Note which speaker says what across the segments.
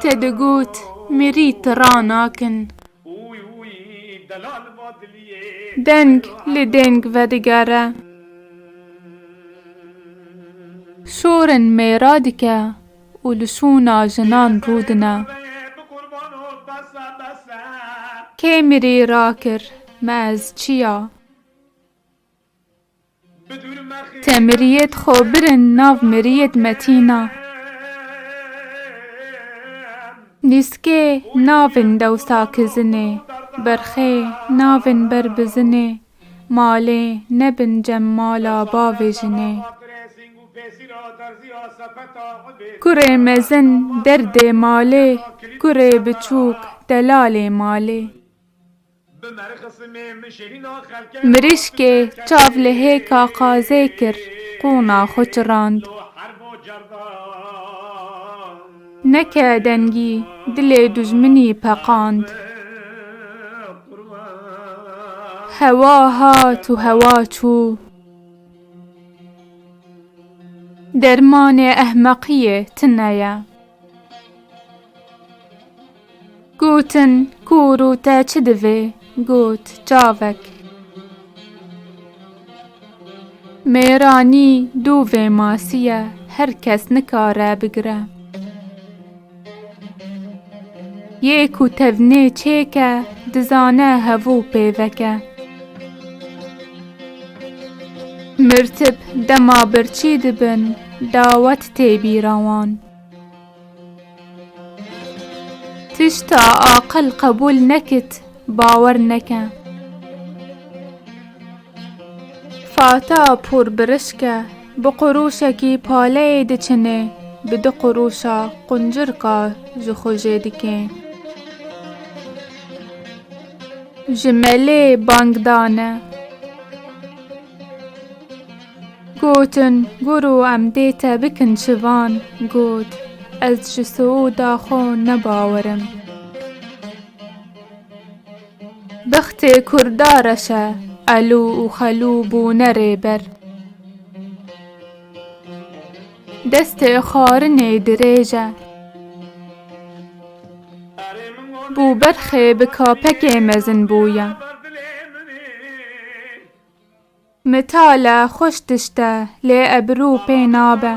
Speaker 1: Te digot mirî ti ra nakin. Deng li deng vedigere. Sorin mêra dike û li sona jinan rûdine. Kê mirî rakir me ez çi ya? Te miriyê di xwe birin nav miriyê di metîna. Nîskê navin dewsa kizinê. Berxê navin ber bizinê. Malê nebin cem mala bavê jinê. Kurê mezin derdê malê. Kurê biçûk delalê malê. Mirîşkê çav li hêka qazê kir, qûna xwe çirand. Neke dengî, dilê dijminî peqand. Hewa hat û hewa çû. Dermanê ehmeqiyê tune ye. Gotin, Kûr û te çi divê? Got, Çavek. Mêranî dû vê masî ye, her kes nikare bigire. Yê ku tevnê çêk e, dizane hevû pêvek e. Mirtip dema birçî dibin dawet tê bîra wan. Tişta aqil qebûl nekit bawer neke. Fata pûr birişk e bi qurûşekî paleyê diçinê bi du qurûşa quncirka ji xwe jê dikê. Ji melê bang dane. Gotin, Guru em dê te bikin civan. Got, Ez ji Siûda xwe ne bawer im. Bextê Kurda reş e. Elû û Xelû bûne rêber. Destê xwarinê dirêj e. Bûberxê bi kapekê mezin bûye. Mitale xweş tişt e lê ebirû pê nabe.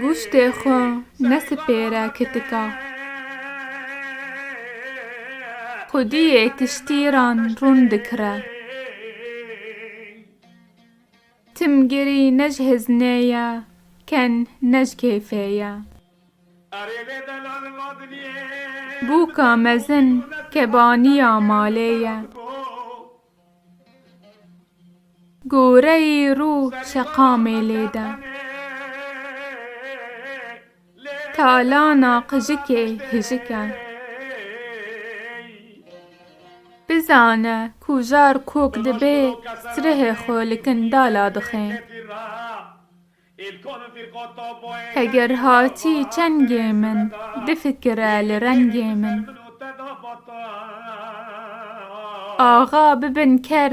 Speaker 1: Gûştê xwe nesipêre kitika. Xwediyê tiştîran rûn dikire. Tim girî ne ji hizmnê ye, ken ne ji kêfê ye. Bûka mezin kebaniya malê ye. Goreyî rû şeqamê lêde. Talana qijikê hijik e. Bizane ku jar kok dibê sirehê xwe li kindala dixe. Heger hatî çengê min difikire li rengê min. Axa bibin ker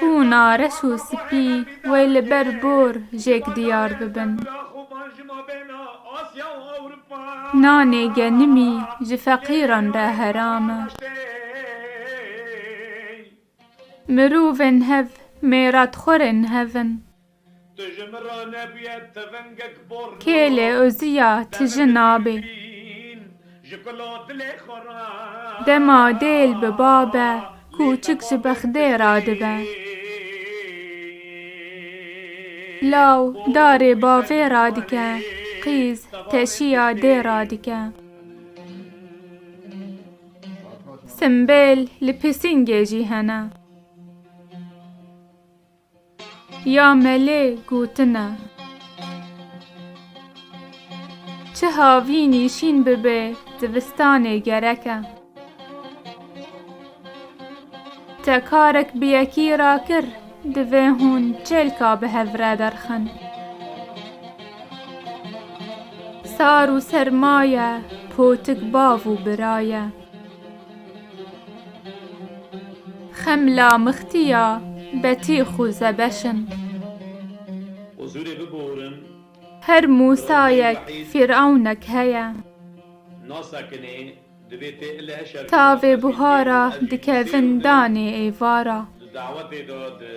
Speaker 1: Ku na reş û spî wê li ber bor jêk diyar bibin. Nanê genimî ji feqîran re heram e. Mirovên hev mêratxwerên hev in. Tu ji min re nebûye tivingek bor no. Kêlê Ozîya ti ji nabê. Te bi dil bi dîl ji kula dilê xwe re. Dema dêl bi babe kûçik ji bexdê re dibe. Law darê bavê re dike, qîz teşiya dê re dike. Simbêl li pisîngê jî hene. Ya melê gotine. Çi havî nîşîn bibe divistanê gerek e. Te karek bi yekî ra kir divê hûn çêlka bi hev re derxin. Sar û serma ye, potik bav û bira ye. Xem la mixtî ya, betî xû zebeş in. Huzûrê biborin. Her Musayek, Fîr'ewnek heye. Nasa kinê, divê tê ile heşa bî. Tavê buhara, dikevin danê êvara. Di dawetê de di.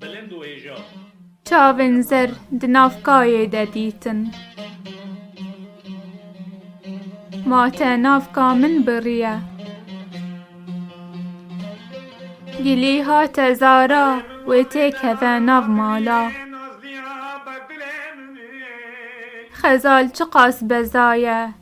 Speaker 1: Bilind û hêja. Çavên zer di nav kayê de dîtin. Ma te nav ka min biriye. Gilî hate zara wê tê keve nav mala. Xezal çiqas bezaye